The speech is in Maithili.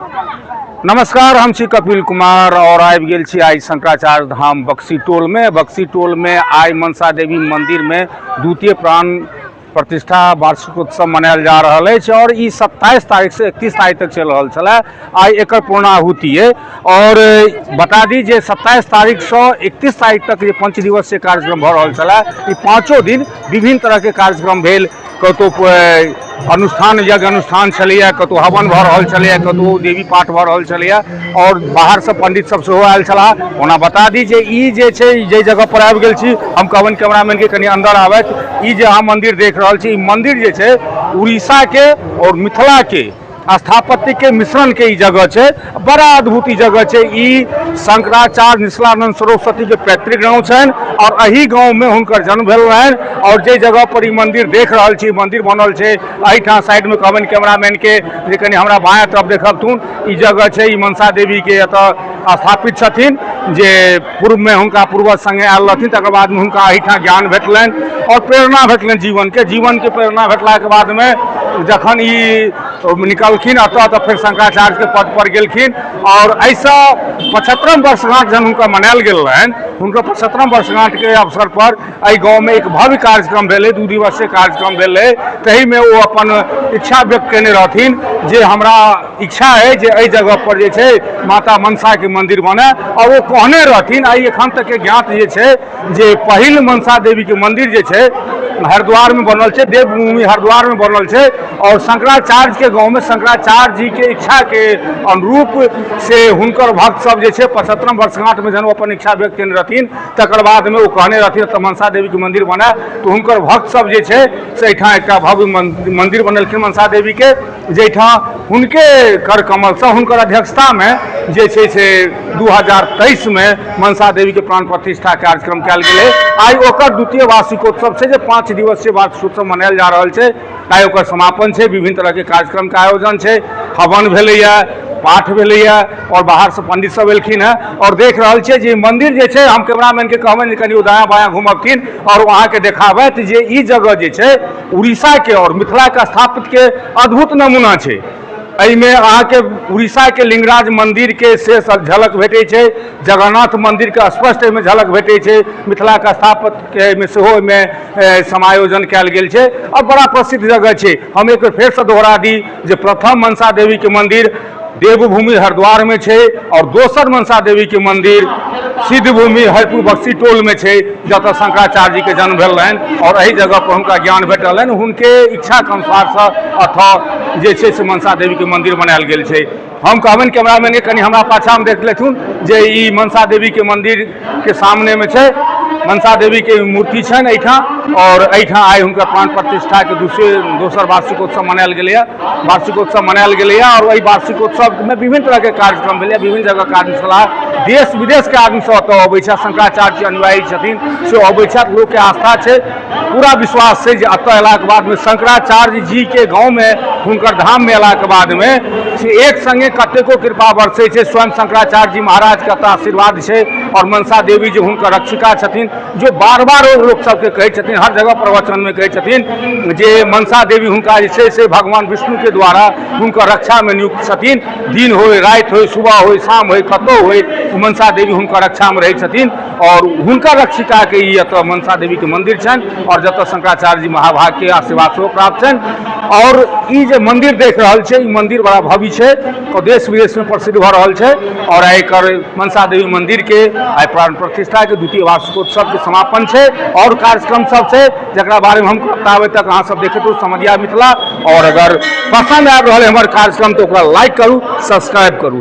नमस्कार हम छी कपिल कुमार और आबि गेल छी आइ शंकराचार्य धाम बक्सी टोल में बक्सी टोल में आइ मनसा देवी मंदिर में द्वितीय प्राण प्रतिष्ठा वार्षिकोत्सव मनायल जा रहल अछि और ई 27 तारीख से 31 तारीख तक चल रहल छलै आइ एकर पूर्णाहुति है और बता दी जे 27 तारीख से 31 तारीख तक जे पंच दिवसीय कार्यक्रम भऽ रहल छलै ई पाँचो दिन विभिन्न तरह के कार्यक्रम भेल कतहु कोइ अनुष्ठान यज्ञ अनुष्ठान छलैए कतहु हवन भऽ रहल छलैए कतहु देवी पाठ भऽ रहल छलैए आओर बाहरसँ पण्डितसभ सेहो आयल छलाह ओना बता दी जे ई जे छै जाहि जगहपर आबि गेल छी हम कहबनि कैमरामैनके कनि अन्दर आबथि ई जे अहाँ मन्दिर देख रहल छी ई मन्दिर जे छै उड़ीसाके आओर मिथिलाके स्थापत्य के मिश्रण के ई जगह छै बड़ा अद्भुत ई जगह छै ई शंकराचार्य निश्लानंद सरस्वती के पैतृक गांव छन और अही गांव में हुनकर जन्म भेल रहन और जे जगह पर ई मंदिर देख रहल छी मंदिर बनल छै अही ठाम साइड में कहबन कैमरामैन के जे कनी हमरा बाया तरफ देखब तुन ई जगह छै ई मनसा देवी के एतऽ स्थापित छथिन जे पूर्वमे हुनका पूर्वज सङ्गे आयल रहथिन तकर बादमे हुनका एहिठाम ज्ञान भेटलनि आओर प्रेरणा भेटलनि जीवनके जीवनके प्रेरणा भेटलाके बादमे जखन ई निकलखिन एतऽ तऽ फेर शंकराचार्यके पद पर गेलखिन आओर एहिसँ पचहत्तरम वर्षगांठ जहन हुनका मनायल गेल रहनि हुनकर पचहत्तरम वर्षगांठके अवसर पर एहि गाँवमे एक भव्य कार्यक्रम भेलै दू दिवसीय कार्यक्रम भेलै ताहिमे ओ अपन इच्छा व्यक्त केने रहथिन जे हमरा इच्छा अइ जे एहि जगह पर जे छै माता मनसा के मंदिर बने और ओ कहने रहथिन आई एखन तक के ज्ञात जे छै जे पहिल मनसा देवी के मंदिर जे छै हरिद्वार में बनल छै देवभूमि हरिद्वार में बनल छै और शंकराचार्य के गांव में शंकराचार्य जी के इच्छा के अनुरूप से हुनकर भक्त सब जे छै पचहत्तरम वर्षगांठ में जन अपन इच्छा व्यक्त केने रहथिन तकर बाद में ओ कहने रहथिन तऽ मनसा देवी के मंदिर बने तऽ हुनकर भक्त सब जे छै से एहिठाम एकटा भव्य मंदिर बनेलखिन मनसा देवी के जाहिठाम हुनके कर कमलसँ हुनकर अध्यक्षतामे जे छै से दू हजार तेइसमे मनसा देवीके प्राण प्रतिष्ठा कार्यक्रम कयल गेलै आइ ओकर द्वितीय वार्षिकोत्सव छै जे पाँच दिवसीय वार्षिकोत्सव मनायल जा रहल छै आइ ओकर समापन छै विभिन्न तरहके कार्यक्रमके आयोजन छै हवन भेलैए पाठ भेलैए आओर बाहरसँ पंडित सब एलखिन हँ आओर देख रहल छियै जे मंदिर जे छै हम कैमरामैनके कहबनि जे कनि ओ दायाँ बायाँ घुमबथिन आओर ओ अहाँके देखाबथि जे ई जगह जे छै उड़ीसाके आओर मिथिलाके स्थापितके अद्भुत नमूना छै एहिमे अहाँके उड़ीसाके लिंगराज मन्दिरके से सब झलक भेटै छै जगन्नाथ मन्दिरके स्पष्ट एहिमे झलक भेटै छै मिथिलाके स्थापतके एहिमे सेहो एहिमे समायोजन कयल गेल छै आओर बड़ा प्रसिद्ध जगह छै हम एक बेर फेरसँ दोहरा दी जे प्रथम मनसा देवीके मन्दिर देवभूमि हरिद्वार में छै और दोसर मनसा देवी के मंदिर सिद्धभूमि हरिपुर बक्सी टोल में छै जत शंकराचार्य जी के जन्म भेल रहन और एहि जगह पर हुनका ज्ञान भेटल हन हुनके इच्छा के अनुसार से अथ जे छै से मनसा देवी के मंदिर बनायल गेल छै हम कहबनि कैमरामैन के कनि हमरा पाछा में देख लेथुन जे ई मनसा देवी के मंदिर के सामने में छै मनसा देवी के मूर्ति छनि एहिठाम और एहिठाम आइ हुनकर प्राण प्रतिष्ठा के दूसरे दोसर वार्षिकोत्सव मनायल गेलैया वार्षिकोत्सव मनायल गेलैया और एहि वार्षिकोत्सव में विभिन्न तरह के कार्यक्रम भेलैया विभिन्न जगह के आदमी छलाह देश विदेश के आदमी सब एतऽ अबै छथि शंकराचार्य जी अनुयायी छथिन से अबै छथि लोक के आस्था छै पूरा विश्वास छै जे एतऽ अयलाके बादमे शंकराचार्य जीके गाँवमे हुनकर धाममे अयलाके बादमे से एक संगे कतेको कृपा बरसै छै स्वयं शंकराचार्य जी महाराजके एतऽ आशीर्वाद छै आओर मनसा देवी जे हुनकर रक्षिका छथिन जे बार बार ओ लोक सबके कहै छथिन हर जगह प्रवचनमे कहै छथिन जे मनसा देवी हुनका जे छै से भगवान विष्णुके द्वारा हुनकर रक्षामे नियुक्त छथिन दिन होय राति होय सुबह होय शाम होय कतौ होय मनसा देवी हुनकर रक्षामे रहै छथिन आओर हुनकर रक्षिकाके ई एतऽ मनसा देवीके मन्दिर छनि आओर जतऽ शंकराचार्य जी महाभागके आशीर्वाद सेहो प्राप्त छनि आओर ई जे मन्दिर देख रहल छै ई मन्दिर बड़ा भव्य छै आओर देश विदेशमे प्रसिद्ध भऽ रहल छै आओर आइ एकर मनसा देवी मन्दिरके आइ प्राण प्रतिष्ठाके द्वितीय वार्षिकोत्सवके समापन छै आओर कार्यक्रम सब छै जकरा बारेमे हम बताबै तक अहाँ सब देखैत रहू समझिया मिथिला आओर अगर पसन्द आबि रहल है हमर कार्यक्रम तऽ ओकरा लाइक करू सब्सक्राइब करू